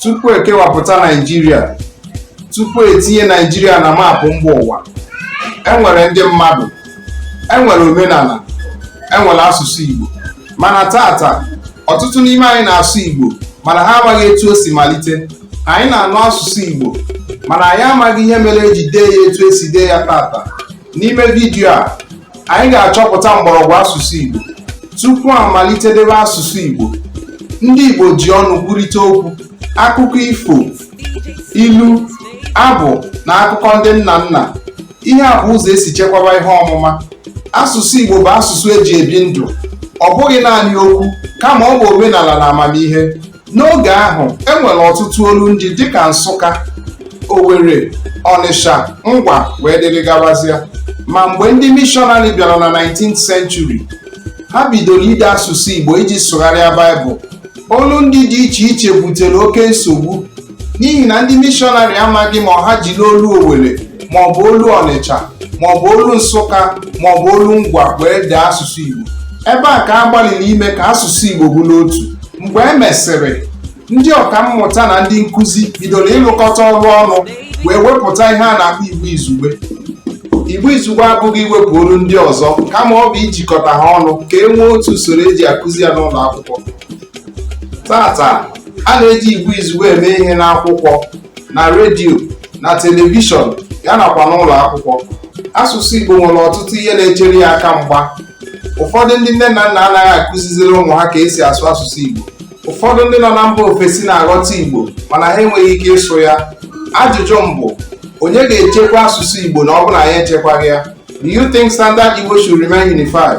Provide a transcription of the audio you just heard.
tupu ekewapụta naijiria tupu etinye naijiria na maapụ mba ụwa enwere ndị mmadụ enwere omenala enwere asụsụ igbo mana taata ọtụtụ n'ime anyị na-asụ igbo mana ha amaghị etu o si malite anyị na-anụ asụsụ igbo mana anyị amaghị ihe mere eji dee ya etu esi dee ya taata N'ime vidiyo a, anyị ga-achọpụta mgbọrọgwụ asụsụ Igbo. Tupu a malite debe asụsụ Igbo, ndị Igbo ji ọnụ kwurịta okwu, akụkọ ifo, ilu, abụ na akụkọ ndị nna nna. Ihe a bụ ụzọ esi chekwaba ihe ọmụma. Asụsụ Igbo bụ asụsụ eji ebi ndụ. Ọ bụghị naanị okwu, kama ọ bụ omenala na amamihe. N'oge ahụ, e nwere ọtụtụ olu ndị dịka Nsụka, Owere, Ọnịsha, Ngwa wee dịrị gabazịa. Ma mgbe ndị mishọnarị bịara na 19th century, ha bidoro ide asụsụ Igbo iji sụgharịa Baịbụl. Olu ndị dị iche iche butere oke nsogbu n'ihi na ndị mishọnarị amaghị ma ọ ha jiri olu owere maọbụ olu ọnịcha maọbụ olu nsụka maọbụ olu ngwa wee dee asụsụ igbo ebe a ka a gbalịrị ime ka asụsụ igbo bụrụ otu mgbe e mesịrị ndị ọka mmụta na ndị nkụzi bidoro ịlụkọta ọrụ ọnụ wee wepụta ihe a na-akpọ igbo izugbe igbo izugbe abụghị iwepụ olu ndị ọzọ kama ọ bụ ijikọta ha ọnụ ka e nwee otu usoro eji akụzi ya n'ụlọ akwụkwọ taata a na-eji Igbo izugbe eme ihe n'akwụkwọ na redio na telivishọn ya nakwa n'ụlọ akwụkwọ asụsụ Igbo nwere ọtụtụ ihe na-echere ya aka mgba ụfọdụ ndị nne na nna anaghị akụziziri ụmụ ha ka esi asụ asụsụ Igbo ụfọdụ ndị nọ na mba ofesi na-aghọta Igbo mana ha enweghị ike ịsụ ya ajụjụ m bụ onye ga-echekwa asụsụ Igbo na ọ bụrụ na anyị echekwaghị ya do you think standard Igbo should remain unified